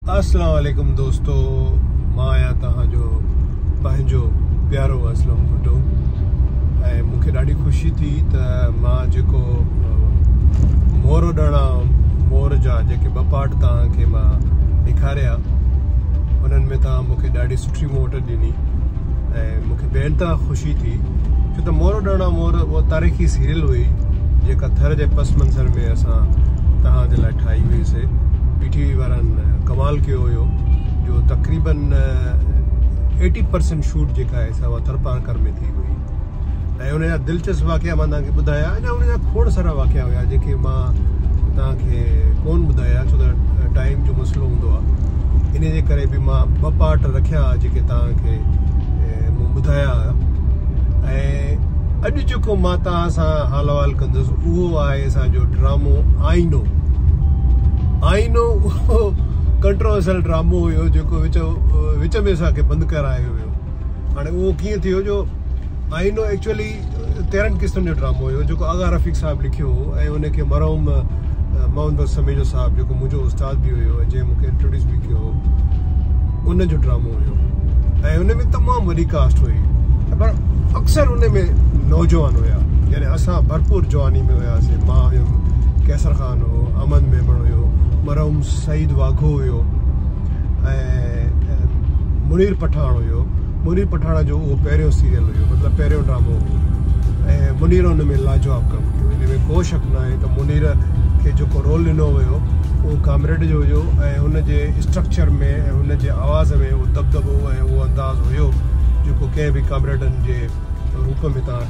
اسلام عليڪم دوستو مان آهيان توهان جو پنهنجو پيارو اسلم ڀٽو ۽ مون کي ڏاڍي خوشي ٿي ته مان جيڪو مور اڏڻ مور جا جيڪي ٻه پارٽ توهان کي مان ڏيکاريا انهن ۾ توهان مون کي ڏاڍي سٺي موٽ ڏني ۽ مونکي بي انتها خوشي ٿي ڇو ته مورو ڏاڻا مور اها تاريخي سيريل هئي جيڪا ٿر جي پس منظر ۾ اسان توهان جي لاء ٺاهي هئي سي پي ٽي وي وارن ڪمال ڪيو هيو جو تقريبن ايٽي پرسنٽ شوٽ جيڪا آهي سا اها ٿرپارڪر ۾ ٿي هئي ۽ ان جا دلچسپ واقعا مان توهان کي ٻڌايا اڃا ان جا کوڙ سارا واقعا هيا جيڪي مان توهان کي ڪون ٻڌايا ڇو ته ٽائيم جو مسئلو هوندو آهي ان جي ڪري به مان ٻه پارٽ رکيا جيڪي توهان کي مون ٻڌايا هيا ۽ اڄ جيڪو مان توهان سان حال احوال ڪندس اهو آهي اسان جو ڊرامو آئينو آئينو ڪنٽروورسل ڊرامو هيو جيڪو وچ وچ ۾ اسان کي بند ڪرايو ويو هاڻي اهو ڪيئن ٿيو جو آئينو ايڪچولي تيرهن قسطن جو ڊرامو هيو جيڪو آغا رفيق صاحب لکيو هو ۽ ان کي مرحوم محمد بخش سميجو صاحب جيڪو منهنجو استاد به هيو ۽ جنهن مونکي انٽروڊيوس به ڪيو هو ان جو ڊرامو هيو ۽ ان ۾ تمام وڏي ڪاسٽ هئي پر اڪثر ان ۾ نوجوان هيا يعني اسان ڀرپور جواني ۾ هياسي مان هيم قيصر خان هو امن ميمڻ هيو مرحوم سعيد واگهو هيو ۽ منير پٺاڻ هيو منير پٺاڻ جو اهو پهريون سيريل هيو مطلب پهريون ڊرامو ۽ منير ان ۾ لاجواب ڪم ڪيو ان ۾ ڪو شڪ نه آهي ته منير کي جيڪو رول ڏنو ويو اهو ڪامريڊ جو هيو ۽ هن جي اسٽرڪچر ۾ ۽ هن جي آواز ۾ اهو دبدبو ۽ اهو انداز هيو جيڪو ڪنهن به ڪامريڊن جي روپ ۾ تان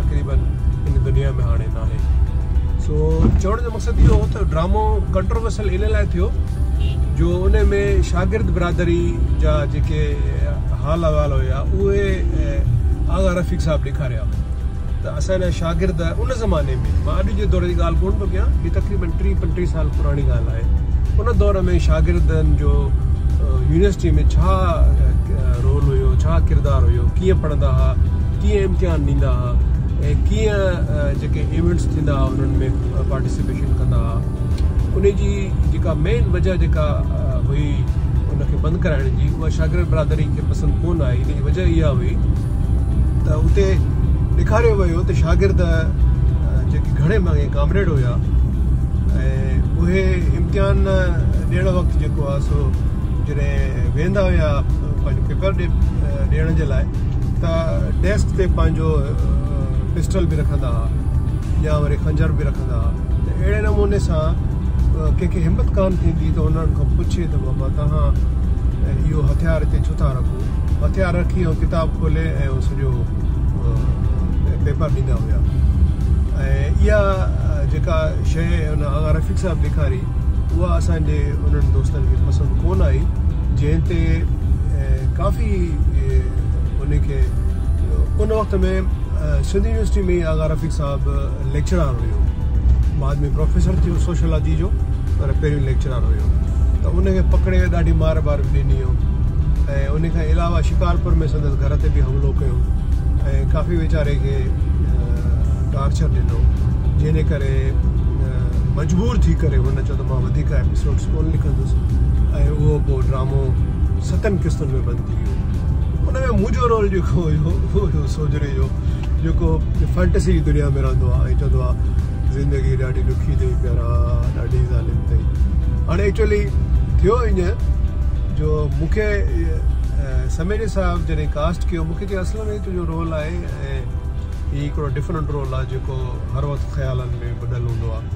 تقريبن ان دنيا ۾ هاڻي ناهي سو چوڻ جو مقصد اهو هو ته ڊرامو ڪنٽروورسل ان لاء ٿيو جو ان ۾ شاگرد برادري جا جيڪي حال احوال هيا اهي آغا رفيق صاحب ڏيکاريا ته اسان جا شاگرد ان زماني ۾ مان اڄ جي دور جي ڳالهه ڪون ٿو ڪيان هي تقريبن ٽي پنجٽيهه سال پراڻي ڳالهه آهي ان دور ۾ شاگردن جو يونيورسٽي ۾ ڇا رول هيو ڇا ڪردار هيو ڪيئن پڙهندا هئا ڪيئن امتحان ڏيندا ها ۽ ڪيئن جيڪي ايونٽس ٿيندا ها انهن ۾ پارٽيسپيشن ڪندا ها ان جي جيڪا مين وجه جيڪا هئي ان کي بند ڪرائڻ جي اها شاگرد برادري کي پسند ڪون آئي ان جي وجه اها هئي ته اتي ڏيکاريو ويو ته شاگرد جيڪي گهڻي ماڳي ڪامريڊ هيا اهي امتحان ڏيڻ وقت جيڪو آهي سو جڏهن ويندا هيا پنهنجو پيپر ڏيڻ جي لاء ته ڊيسڪ تي پنهنجو پسٽل به رکندا ها يا وري خنجر به رکندا ها ته اهڙي نموني سان ڪنهن کي همت ڪان ٿيندي ته انهن کان پڇي ته بابا توهان اهو هٿيار هتي ڇو ٿا رکو هٿيار رکي ۽ ڪتاب کولي ۽ سڄو پيپر ڏيندا هيا ۽ اها جيڪا شيء ان آغا رفيق صاحب ڏيکاري اها اسان جي انهن دوستن کي پسند ڪونه آئي جنهن تي ڪافي ان کي ان وقت ۾ سنڌ يونيورسٽي ۾ ئي آغا رفيق صاحب ليڪچرار هيو بعد ۾ پروفيسر ٿيو سوشلاجي جو پر پهريون ليڪچرار هيو ته ان کي پڪڙي ڏاڍي مار بار به ڏني هو ۽ ان کان علاوه شڪارپور ۾ سندس گهر تي به حملو ڪيو ۽ ڪافي ويچاري کي ٽارچر ڏنو جنهن جي ڪري مجبور ٿي ڪري هن چيو ته مان وڌيڪ ايپيسوڊز ڪونه لکندس ۽ اهو پوء ڊرامو ستن قسطن ۾ بند ٿي ويو ان ۾ منهنجو رول جيڪو هيو اهو هيو سوجهري جو جيڪو فينٽسي جي دنيا ۾ رهندو آهي ۽ چوندو آهي زندگي ڏاڍي ڏکي اٿئي پيارا ڏاڍي ظالم اٿئي هاڻي ايڪچولي ٿيو ايئن جو مونکي سميري صاحب جڏهن ڪاسٽ ڪيو مونکي چيو اصل ۾ تنهنجو رول آهي ۽ هي هڪڙو ڊفرنٽ رول آهي جيڪو هر وقت خيالن ۾ ٻڌل هوندو آهي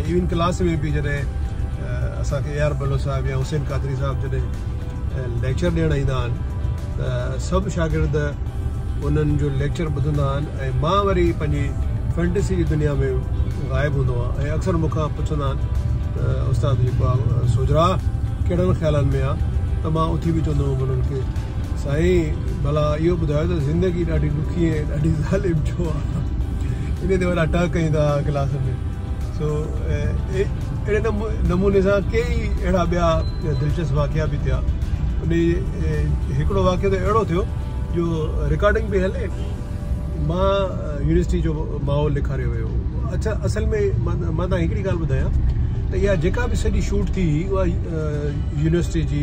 ۽ ايون ڪلاس ۾ به جڏهن اسان کي اي آر بلوچ صاحب يا حسين قادري صاحب جڏهن ليڪچر ڏيڻ ايندا آهن ته سڀ شاگرد انهن جو ليڪچر ٻڌندا آهن ۽ مان وري پنهنجي فينٽسي جي دنيا ۾ غائب هوندو آهي ۽ اڪثر مون کان پڇندا آهن ته استاد جيڪو آهي سوجھرا ڪهڙن خيالن ۾ آهي ته مان اٿي به چوندو هوم انهن کي سائين ڀلا اهو ٻڌايو ته زندگي ڏاڍي ڏکي ۽ ڏاڍي ظالم ڇو آهي انهي تي وڏا ٽهڪ ڪيون ٿا ڪلاس ۾ سو اهڙي نموني سان ڪيئي اهڙا ٻيا دلچسپ واقعا به ٿيا انهي هڪڙو واقعو ته اهڙو ٿيو جو رڪارڊنگ پئي هلي مان يونيورسٽي جو ماحول ڏيکاريو ويو اڇا اصل ۾ مان مان تان هڪڙي ڳالهه ٻڌايان ته اها جيڪا به سڄي شوٽ ٿي هئي اها يونيورسٽي جي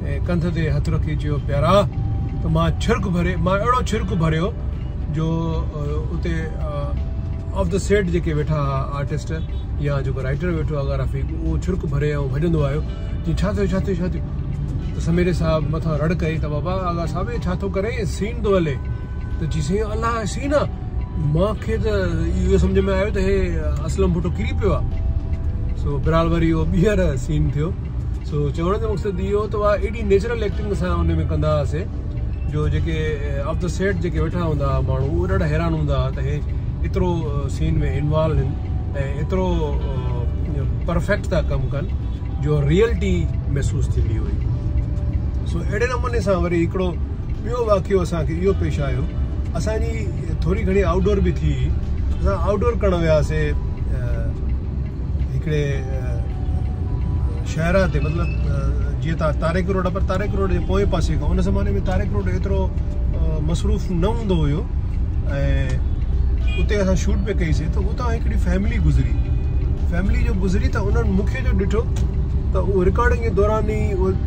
۽ ڪنڌ تي هٿ رکي چيو، پيارا! ته مان ڇرڪ ڀري، مان اهڙو ڇرڪ ڀريو جو اتي آف دي سيٽ جيڪي ويٺا ها آرٽسٽ يا جيڪو رائٽر ويٺو آ گرافڪ اهو ڇرڪ ڀري ۽ ڀڄندو آيو جي ڇا ٿيو ڇا ٿيو ڇا ٿيو ته سميري صاحب مٿان رڙ ڪئي ته بابا آغا صاحب هي ڇا ٿو ڪرين سين ٿو هلي. ته چي سائين الله سين آ مان کي ته اهو سمجهه ۾ آيو ته هي اسلم ڀٽو ڪري پيو آ سو برحال وري اهو ٻيهر سين ٿيو سو چوڻ جو مقصد اهو ته اها ايڏي نيچرل ايڪٽنگ اسان ان ۾ ڪندا هئاسي جو جيڪي آف دا سيٽ جيڪي ويٺا هوندا هئا ماڻهو اهو ڏاڍا حيران هوندا هئا ته هي ايترو سين ۾ انوالو آهن ۽ ايترو پرفيڪٽ ٿا ڪم ڪن جو ريئلٽي محسوس ٿيندي هئي سو اهڙي نموني سان وري هڪڙو ٻيو واقعو اسان کي اهو پيش آيو اسان جي ٿوري گهڻي آئوٽ ڊور به ٿي اسان آئوٽ ڊور ڪرڻ وياسي هڪڙي شهرا تي مطلب جيئن تارڪ تاريخ روڊ پر تاريخ روڊ جي پوئين پاسي کان ان زماني ۾ تاريخ روڊ ايترو مصروف نه هوندو هيو ۽ اتي اسان شوٽ به ڪئي سي ته اتان هڪڙي فيملي گذري فيملي جو گذري ته انهن مونکي جو ڏٺو ته اهو رڪارڊنگ جي دوران ئي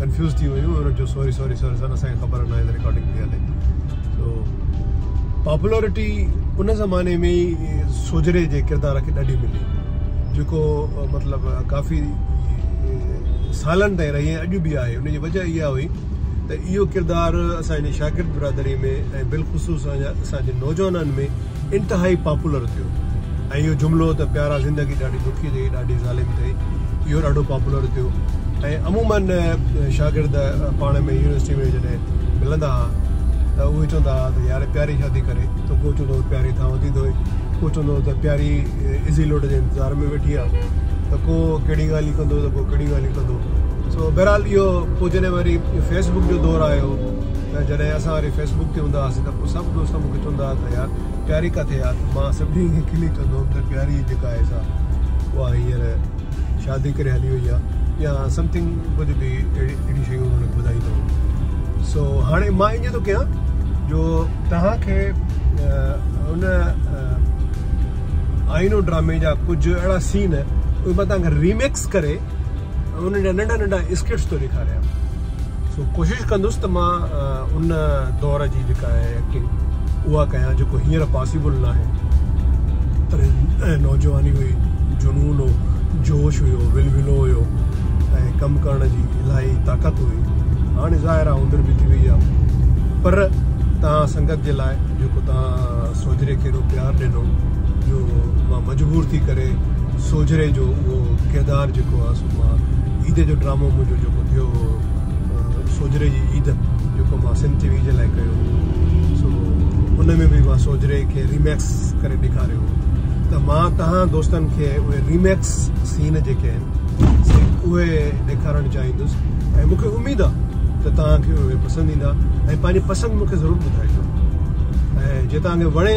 ڪنفيوز ٿي ويون ۽ چيو سوري سوري سر سر اسان کي خبر نه آهي رڪارڊنگ ٿي هلي سو پاپولرٽي ان زماني ۾ ئي سوجري جي ڪردار کي ڏاڍي ملي جيڪو مطلب ڪافي سالن تائين رهي اڄ به آهي ان جي وجہ اها هئي ته اهو ڪردار اسان جي شاگرد برادري ۾ ۽ بالخصوص اسان جي نوجوانن ۾ انتهائي پاپولر ٿيو ۽ اهو جملو ته پيارا زندگي ڏاڍي ڏکي اٿئي ڏاڍي ظالم اٿئي اهو ڏاڍو پاپولر ٿيو ۽ عموماً شاگرد پاڻ ۾ يونيورسٽي ۾ جڏهن ملندا هئا ته اهي چوندا هئا ته يار پياري شادي ڪري ته ڪو چوندو هو پياري ٿانو ٿي ڌوئي ڪو چوندو هو ته پياري ازي لوٽ جي انتظار ۾ ويٺي آهي ته ڪو ڪهڙي ڳالهيون ڪندو ته ڪو ڪهڙي ڳالهيون ڪندو سو بهرحال اهو پوء جڏهن وري فيسبڪ جو دور آيو ته جڏهن اسان وري فيس بڪ تي هوندا هئاسين ته پوء سڀ دوست مون کي چوندا هئا ته يار پياري ڪٿي آ ته مان سڀني کي کلي چوندو هوم ته پياري جيڪا آهي سا اها هينئر شادي ڪري هلي وئي آ يا سمٿنگ ڪجهه به اهڙيون شيون انهن کي ٻڌائيندو هوم سو هاڻي مان ائين ٿو ڪيان جو توهان کي ان آئينو ڊرامي جا ڪجهه اهڙا سين اهي مان توهان کي ريميڪس ڪري انهن جا ننڍا ننڍا اسڪٽس ٿو ڏيکاريان سو ڪوشش ڪندس ته مان ان دور جي جيڪا آهي ايڪٽنگ اها ڪيان جيڪو ھينئر پاسيبل نه آهي تڏهن نوجواني هئي جنون هو جوش هيو ولولو هيو ۽ ڪم ڪرڻ جي الاهي طاقت هئي هاڻي ظاهر آ عمر به ٿي وئي آ پر توهان سنگت جي لاء جيڪو توهان سوجهري کي ايڏو پيار ڏنو جو مجبور ٿي ڪري سوجهري جو اهو ڪردار جيڪو آهي سو مان عيد جو ڊرامو منهنجو جيڪو ٿيو هو سوجهري جي عيد جيڪو مان سنڌ ٽي وي جي لاء ڪيو هو سو ان ۾ به مان سوجهري کي ريميڪس ڪري ڏيکاريو هو ته مان تهان دوستن کي اهي ريميڪس سين جيڪي آهن سي اهي ڏيکارڻ چاهيندس ۽ مونکي اميد آهي ته تهان کي اهي پسند ايندا ۽ پنهنجي پسند مونکي ضرور ٻڌائجو ۽ جي تهان کي وڻي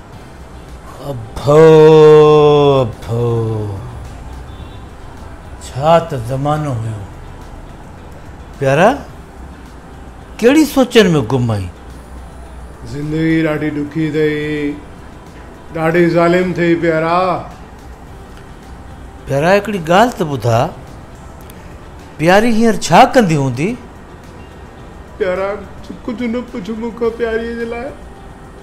اڀو اڀو! ڇا ته زمانو هيو. پيارا! ڪهڙي سوچن ۾ گم آهين؟ زندگي ڏاڍي ڏکي ٿئي. ڏاڍي ظالم ٿئي پيارا! پيارا هڪڙي ڳالهه ته ٻڌاء. پياري هينئر ڇا ڪندي هوندي؟ پيارا! ڪجهه نه پڇ مون کان پياريء جي لاء.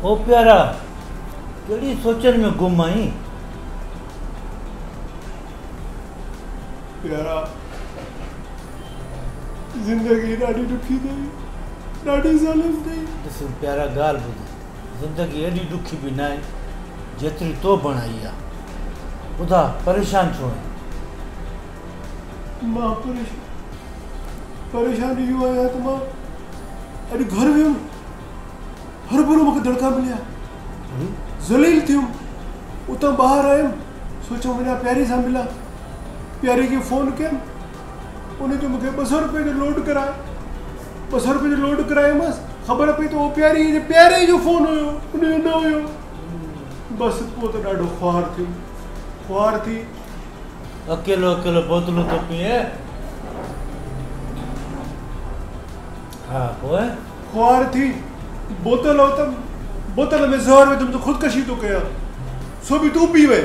او پيارا! ڪهڙي سوچن ۾ گم آهين؟ پيارا! زندگي ڏاڍي ڏکي اٿئي، ڏاڍي ظالم اٿئي. ڏس پيارا ڳالهه ٻڌ، زندگي ايڏي ڏکي به ناهي، جيتري تو بڻائي آ. ٻڌاء پريشان ڇو آهين؟ مان پريشان اهو آهيان ته مان اڄ گهر ويم. هرڀرو مون کي دڙڪا مليا ذليل ٿيم اتان ٻاهر آيم سوچيم وڃا پياري سان ملان پياري کي فون ڪيم ان جو مونکي ٻه سؤ روپئي جو لوڊ ڪرايو ٻه سؤ روپئي جو لوڊ ڪرايومس خبر پئي ته پياري جي پياري جو فون هيو ان جو نه هيو بس پوء ته ڏاڍو خوار ٿيم خوار ٿي اڪيلو اڪيلو بوتلون ٿو پيئي ها پوء؟ خوار ٿي بوتل اوتم، بوتل ۾ زهر وڌم ته خودڪشي ٿو ڪيان، سو به تون پي وئي.